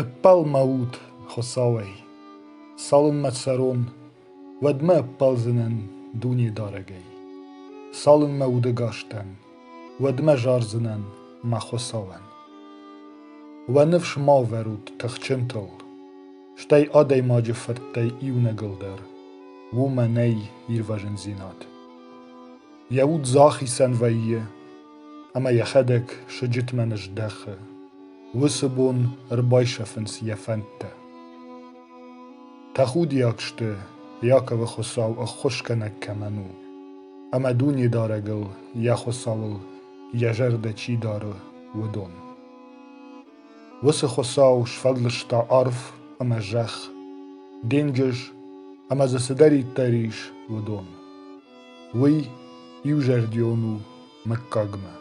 Ӕппӕлмӕ ут, Хуыцауӕй, цалынмӕ цӕрон, уӕдмӕ ӕппӕлдзынӕн Дунедарӕгӕй, цалынмӕ удӕгас дӕн, уӕдмӕ зардзынӕн мӕ Хуыцауӕн. Уӕ ныфс ма ӕвӕрут тыхджынтыл, стӕй адӕймаджы фырттӕй иунӕгыл дӕр уымӕ нӕй ирвӕзындзинад. Йӕ уд захицӕн вӕййы ӕмӕ йӕхӕдӕг сыджытмӕ ныздӕхы. Уыцы бон ӕрбайсӕфынц йӕ фӕндтӕ. Тӕхудиаг сты, Иаковы Хуыцау ӕххуысгӕнӕг кӕмӕн у, ӕмӕ Дунедарӕгыл, йӕ Хуыцауыл йӕ зӕрдӕ чи дары, уыдон. Уыцы Хуыцау сфӕлдыста арв ӕмӕ зӕхх, денджыз ӕмӕ дзы цыдӕриддӕр ис, уыдон. Уый иузӕрдион у мыггагмӕ.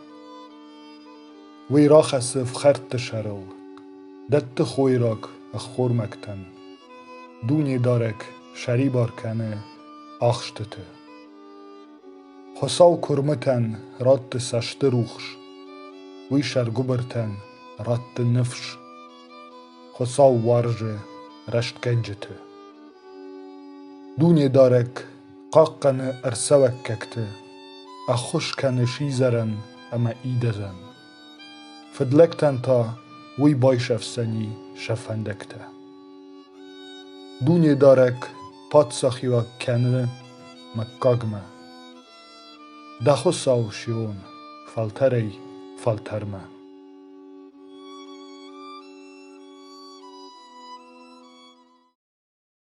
Уый рахӕссы ӕфхӕрдты сӕрыл, дӕтты хойраг ӕххормӕгтӕн, дунедарӕг сӕрибар кӕны ахстыты. Хуыцау куырмытӕн ратты цӕстырухс, уый сӕргуыбыртӕн ратты ныфс. Хуыцау уарзы рӕстгӕнджыты. Дунедарӕг хъахъхъӕны ӕрцӕуӕггӕгты, ӕххуыс кӕны сидзӕрӕн ӕмӕ идӕдзӕн. Фыдлӕгтӕн та уый байсӕфдзӕни сӕ фӕндӕгтӕ. Дунедарӕг паддзахиуаг кӕны мыггагмӕ. Дӕ Хуыцау Сион, фӕлтӕрӕй фӕлтӕрмӕ.